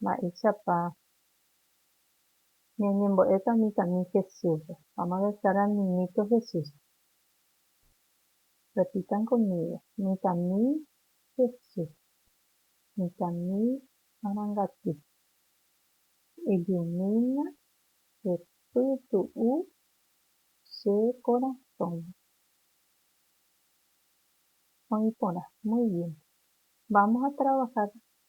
Mba'éichapa ñañembo'éta mitãmi Jesúsre? Vamos a rezar al Niñito Jesús. Repitan conmigo, Mitãmi Jesús, mitãmi arangaty, ejumína che pytu'u che korasõme. Oĩ porã. Muy bien. Vamos a trabajar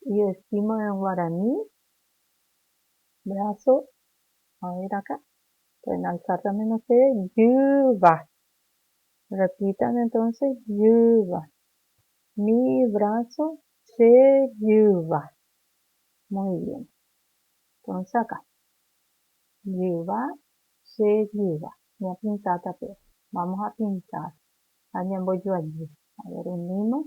Y estima en guarani, brazo, a ver acá, pueden alzar también ustedes, jyva. Repitan entonces, jyva. Mi brazo, che jyva. Muy bien. Entonces acá, jyva, che jyva. Ñapinta tape. Vamos a pintar. Ha ñambojoajy. A ver, unimos.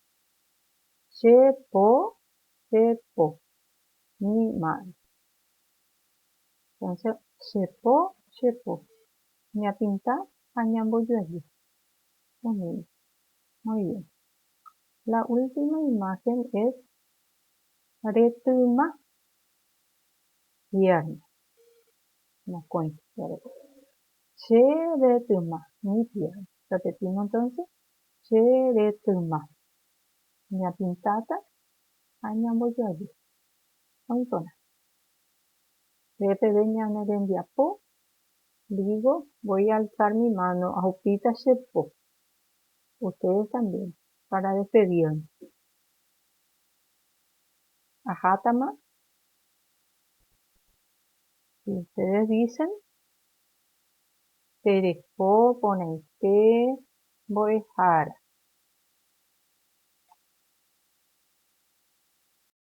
Che po, che po, ni ma'e. Entonce, che po, che po, ñapinta ha ñambojoaju. Umi. Muy bien. La última imagen es retyma, pierna. Mokõi. Che retyma, ni pierna. Repetimo entonce, Che retyma. Ñapintáta ha ñambojoaju. Oĩporã. Nde peve ñane rembiapo, digo, voy a alzar mi mano, ahupíta che po. Ustedes también, para despedirnos. Ajátama. Si ustedes dicen. Tereko porãite mbo'ehára.